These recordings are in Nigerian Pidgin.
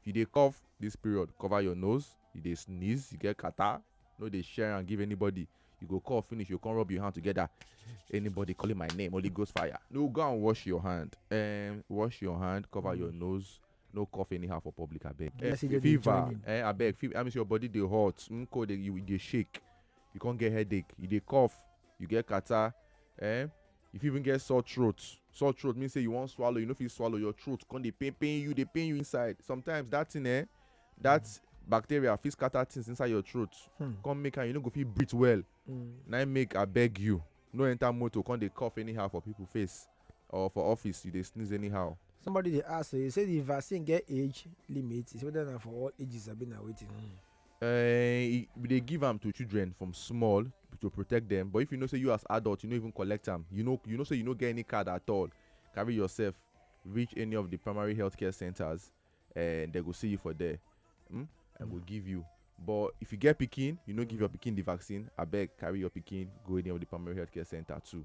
If you dey cough this period, cover your nose, you dey sneeze, you get catarrh, no dey share am give anybody, you go cough finish, you go come rub your hand together, anybody calling my name, Holy Ghost fire. No, go and wash your hand, um, wash your hand, cover your nose, no cough anyhow for public abeg. Eh, Blessed dey fever, join in. eh, abeg, fever, that means your body dey hot, mm, cold, dey- you dey shake, you come get headache, you dey cough, you get catarrh, eh, you fit even get sore throat sore throat mean say you wan swallow you no fit swallow your throat come dey pain pain you dey pain you inside sometimes that thing eh that mm. bacteria fit scatter things inside your throat hmm. come make am you no go fit breathe well mm. na im make abeg you no enter motor come dey cough anyhow for people face or for office you dey sneeze anyhow. somebody dey ask you say the vaccine get age limit is whether na for all ages abi na wetin. Mm. um we dey give am to children from small to protect them. but if you know say you as adult you no even collect am you know you know say you no get any card at all carry yourself reach any of the primary health care centers and they go see you for there hmm? and go give you but if you get pikin you no give your pikin the vaccine abeg carry your pikin go any of the primary health care center too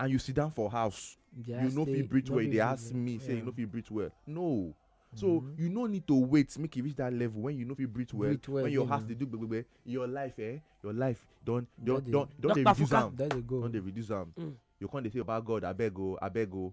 and you sit down for house yeah, you no fit breathe well you dey ask me say you no fit breathe well no so mm-hmm. you no need to wait make e reach that level when you no fit breathe well when your heart dey do gbegbe your life eh your life don don don don dey reduce am don dey reduce am mm. you come dey say baba god abeg o abeg o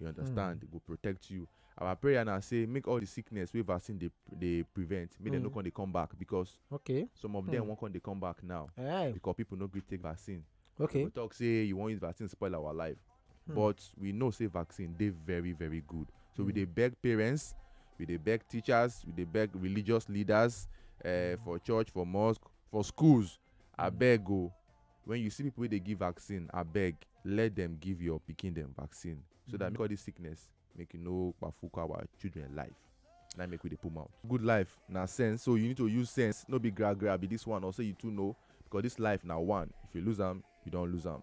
you understand mm. go protect you our prayer now say make all the sickness wey vaccine dey dey prevent make mm. dem no hmm. come dey come back because okay some of mm. them hmm. wan come dey come back now Aye. because people no gree take vaccine okay we talk say you wan use vaccine spoil our life mm. but we know say vaccine dey very very good so mm. we hmm. dey beg parents we dey beg teachers we dey beg religious leaders uh, for church for mosque for schools abeg o When you see people wey dey give vaccine, abeg let dem give your pikin dem vaccine so that make all this sickness make you no kpafuka our children life. Na im make we dey put mouth. Good life na sense so you need to use sense no be gra gra be this one or say you too know because this life na one if you lose am you don lose am.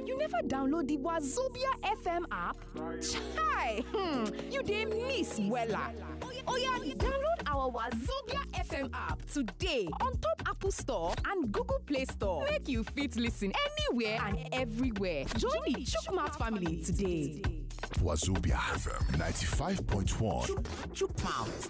You never download the Wazobia FM app? Chai! Hmm, you dey miss wella. Oya, download our Wazobia FM app today on top Apple Store and Google Play Store. Make you fit listen anywhere and everywhere. Join the Chukmat family today. Wazobia FM 95.1. Chukmouth.